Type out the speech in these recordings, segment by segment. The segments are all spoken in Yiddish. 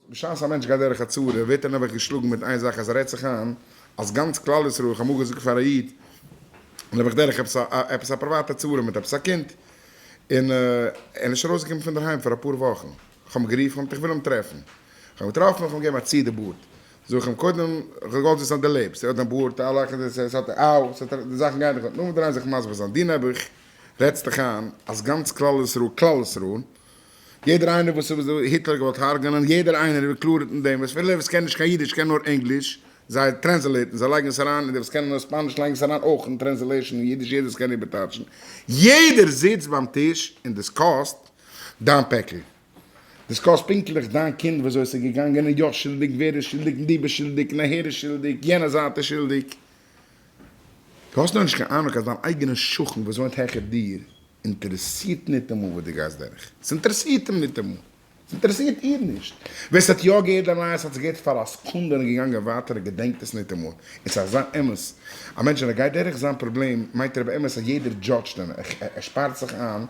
בשעת א מענטש גייט דורך א צרה ווערט ער נעבעך געשלאגן מיט איין זאך אז ער רעדט זיך איין אז גאנץ כלל ישראל, איך האב אמאל געזאגט פאר א איד נעבעך דורך עפעס א עפעס א פריוואטע צרה מיט עפעס א קינד און ער איז נישט ארויסגעקומען פון דערהיים פאר אפאר וואכן, איך האב אים גערופן איך האב געמאלט איך וויל אים טרעפן, איך האב אים געטראפן איך האב אים געגעבן א צי די בארד, זאג איך אים קודם איך האב געוואלט וויסן אז די לעבסט ער האט דיין בארד א לאך אין די ס'האט אאו ס'האט די זאכן גייען דיך אן, נאכדעם דארף מען דרייען זיך מסביר זיין דו נעבעך רעדסט דיך איין אז גאנץ כלל ישראל כלל ישראל. יעדער איינער וואס איז וואס היטלער געוואלט הרג'נען, יעדער איינער איז ווי קלאר אין דעם, וואס פילע וואס קענען נישט קיין אידיש קענען נאר ענגליש, זיי טרענסעלעיטן, זיי לייגן עס אריין, און די וואס קענען נאר ספאניש לייגן עס אריין אויך אין טרענסעלעישן אין אידיש, יעדער וואס קען איבערטייטשן, יעדער זיצט ביים טיש און דיסקאסט דיין פעקל, דיסקאסט פונקטליך דיין קינד ווי אזוי עס איז געגאנגען, און יא שולדיג, ווער איז שולדיג, און דו ביסט שולדיג, און אהער איז שולדיג, יענע זייט איז שולדיג, דו האסט נאכנישט קיין אהנונג אז דיין אייגענע שכן וואס וואוינט העכער דיר אינטערעסירט ניטאמאל וואס דו גייסט דורך, ס'אינטערעסירט אים ניטאמאל, ס'אינטערעסירט איר נישט, ווער ס'האט יא געהערט די נייעס האט עס געהערט פאר א סקונדע און געגאנגען ווייטער ער געדענקט עס ניטאמאל, און ס'איז אזא אמת, א מענטש ווען ער גייט דורך זיין פראבלעם מיינט ער באמת אז יעדער דזשאדזשט אים, ער שפארט זיך איין,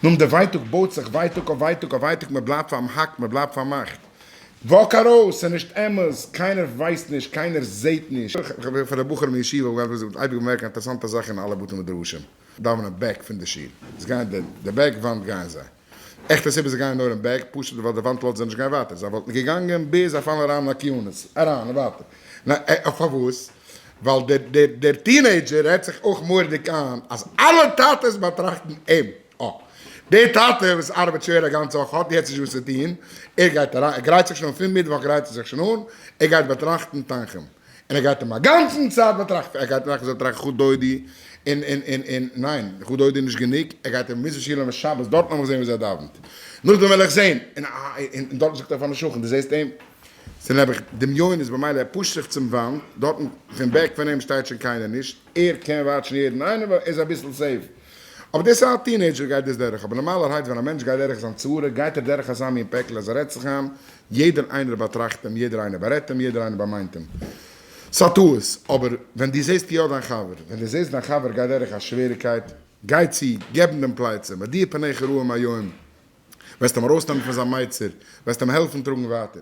נאכדעם די ווייטאג בויט זיך ווייטאג אויף ווייטאג אויף ווייטאג, מ'בלייבט פארמאכט, מ'בלייבט פארמאכט. וואק ארויס! ס'איז נישט אמת! קיינער ווייסט נישט! קיינער זעהט נישט! פאר די בחורים אין ישיבה האב איך אייביג באמערקט א אינטערעסאנטע זאך אין אלע בתי מדרשים דאווענען בעק פון די שול איז גייען די בעק וואנט גייען זיי עכט א סיבה זיי גייען נאר אין בעק פשוט ווייל די וואנט לאזט זיי נישט גיין ווייטער זיי וואלטן געגאנגען ביז זיי פאלן אריין אין א קינות אריין און ווייטער ניין פארוואס ווייל דער דער טינעידזשער רעדט זיך אויך מורדיג איין אז אלע טאטעס באטראכטן אים אה. דער טאטע וואס ארבעט שווער א גאנצע וואך האט יעצט נישט וואס צו טון, ער גייט אריין, ער גרייט זיך שוין, פון מיטוואך גרייט ער זיך שוין אן, ער גייט באטראכטן תנחום, און ער גייט אים א גאנצן צייט באטראכטן, ער גייט טראכטן, ער זאל טראכטן חו דודי, און און און און ניין, חו דודי איז נישט גענוג, ער גייט אים מוזן שילעווען שבת, דארטן וועל איך זען וויאזוי ער דאווענט, נאכדעם וועל איך זען, און און דארטן זאגט ער פארן שכן, דו זעסט אים? ס'איז נעבעך דמיונות, במילא ער פושט זיך צום וואנט, דארטן פון בעק פון אים שטייט שוין קיינער נישט, ער קען וואטשן יעדן איינעם ווייל ער איז אביסל סעיף. אבער דאס א טינעידזשער גייט דאס דורך, אבער נארמאלערהייט ווען א מענטש גייט דורך זיין צרה גייט ער דורך אזא מין פעקל אז ער רעדט זיך איין יעדער איינער באטראכט אים יעדער איינער בארעדט אים יעדער איינער באמיינט אים ס'א טעות אבער ווען די זעסט יא דיין חבר ווען די זעסט דיין חבר גייט דורך א שוועריקייט גיי צו געב אים דעם פלייצע מודיע פניך רעים היום וועסט אים ארויסנעמען פון זיין מייצר וועסט אים העלפן טראגן ווייטער.